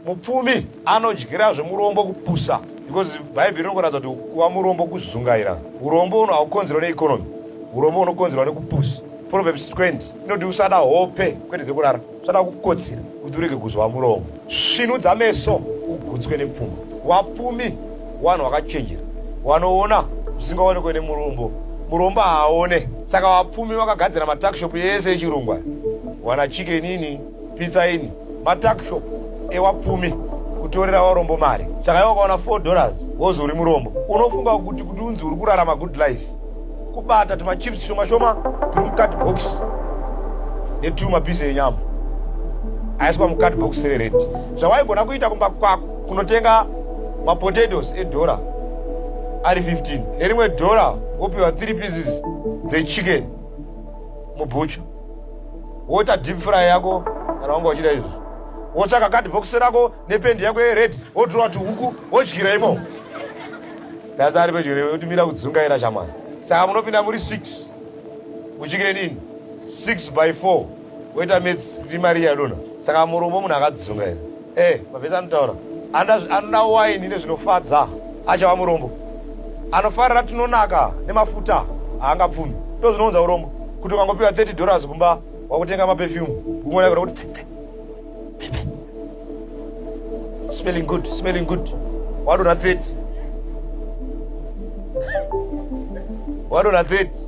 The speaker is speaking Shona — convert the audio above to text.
Mupfumi anodyira zvemurombo kupusa because bhaibheri rinokuratidza kuti kuva murombo kuzungaira. Urombo uno haukonzerwa neeconomy, urombo unokonzerwa nekupusa. Proverbs 20 inoti usada hope kwete dzekurara, usada kukotsira kuti urege kuzova murombo. Svinudza meso ugutswe nepfuma. Wapfumi wanhu wakachenjera wanoona zvisingaonekwe nemurombo, murombo haaone. Saka wapfumi wakagadzira matakshop yese echirungu aya, wana chikenini pizza ini matakshop ewapfumi kutorera varombo mari saka iwe ukaona 4 dollars wozi uri murombo unofunga kuti kuti unzi uri kurarama good life kubata tumachips shoma shoma turi mucard box netuma mapiece enyama aiswa mucard box rered zvawaigona kuita kumba kwako kunotenga mapotatoes edhora ari 15 nerimwe dhora wopiwa 3 pieces dzechicken mubucha woita deep fry yako kana wanga uchida izvi wotsvaka kadbokisi rako nependi yako yered wotura kuti huku wodyira imo dasi ari pedyo newe utimira kudzungaira shamwari saka munopinda muri six muchikire nini six by four woita mets kuti mari yadona saka murombo munhu akadzungaira Eh, mavhesi anotaura anoda waini nezvinofadza achava murombo anofarira tinonaka nemafuta haangapfumi ndo zvinounza urombo kuti ukangopiwa 30 dollars kumba wakutenga mapefyume uona kura kuti smelling good smelling good wadona 30 wadona 30